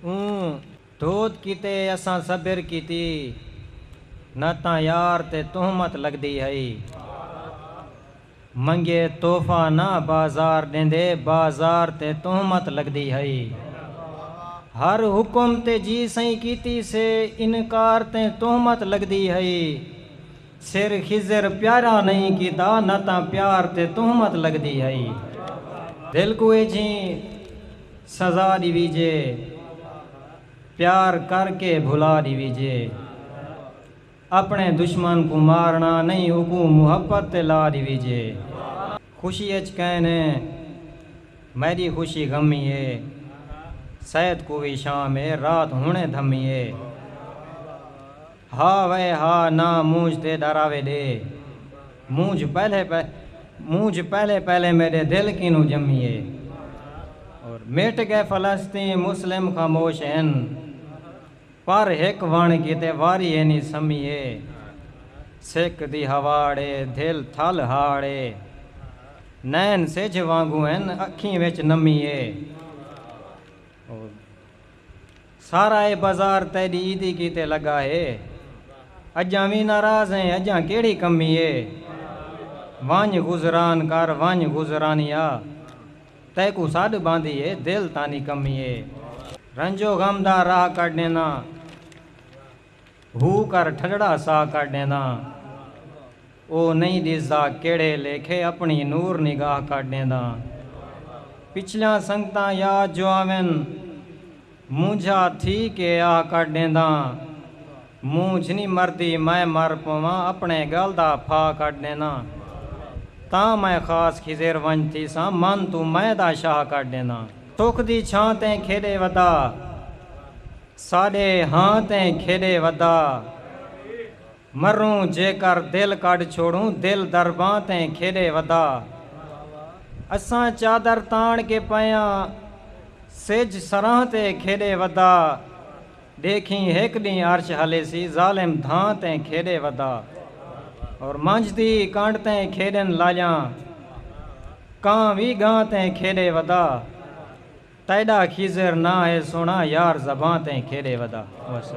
اوں دھود کیتے اساں صبر کیتی نہ تاں یار تے تہمت لگدی ہئی منگے تحفہ نہ بازار ݙیندے بازار تے تہمت لگدی ہئی ہر حکم تے جی سئیں کیتی سے انکار تے تہمت لگدی ہئی سر خضر پیارا نئیں کیتا نہ تاں پیار تے تہمت لگدی ہئی دل کوں ایجھیں سزا ݙیویجے پیار کر کے بھلا ݙیویجے اپݨے دشمن کوں مارݨا نئیں اوکوں محبت تے لا ݙیویجے خوشی اچ کئیں نے میݙی خوشی غمی اے سید کووی شام اے رات ہݨے دھمی اے۔ ہا وے ہا نہ مونجھ تے ڈراوے ڈے مونجھ پہلے مونجھ پہلے پہلے میڈے دل کینوں جمی اے اور مٹ گئے فلسطین مسلم خاموش ہن پر ہک وݨ کیتے واری اینی سمی اے سک دی ہواڑ اے دل تھل ہاڑ اے نین سجھ وانگوں ہن اکھیں وچ نمی اے۔ سارا اے بازار تیڈی عیدی کیتے لگا ہے اجاں وی ناراض ہیں اجاں کیڑھی کمی ہے ونج گزران کر ونج گزرانیا تیکوں سڈ باندھی ہے دل تاں نی کمی ہے رنج و غم دا راہ کڈھ ڈینا۔ ہو کر ٹھڈڑا ساہ کر ڈینداں او نئیں ڈسدا کیڑھے لیکھے اپنڑی نور نگاہ کر ڈینداں پچھلیاں سنگتاں یاد جو آون مونجھا تھی کے آہ کر ڈینداں مونجھ نی مردی میں مر پوواں اپنڑے گل دا پھاہ کر ڈینداں تاں میں خاص خضر ونج تھیساں من توں میں دا شاہ کر ڈینداں سکھ دی چھاں تیں کھیڈے ودا۔ ساݙے ہاں تیں کھیݙے ودا مروں جیکر دل کڈھ چھوڑوں دل درباں تیں کھیݙے ودا اساں چادر تاݨ کے پیاں سجھ سراں تے کھیݙے ودا ݙیکھیں ہک ݙینہہ عرش ہلیسی ظالم دھاں تیں کھیݙے ودا اور منجھ دی کنڈ تیں کھیݙن لاڄاں کاں وی ڳاں تیں کھیݙے ودا تیڈا خضر ناں ہے سوہنڑا یار زباں تئیں کھیڈے ودا۔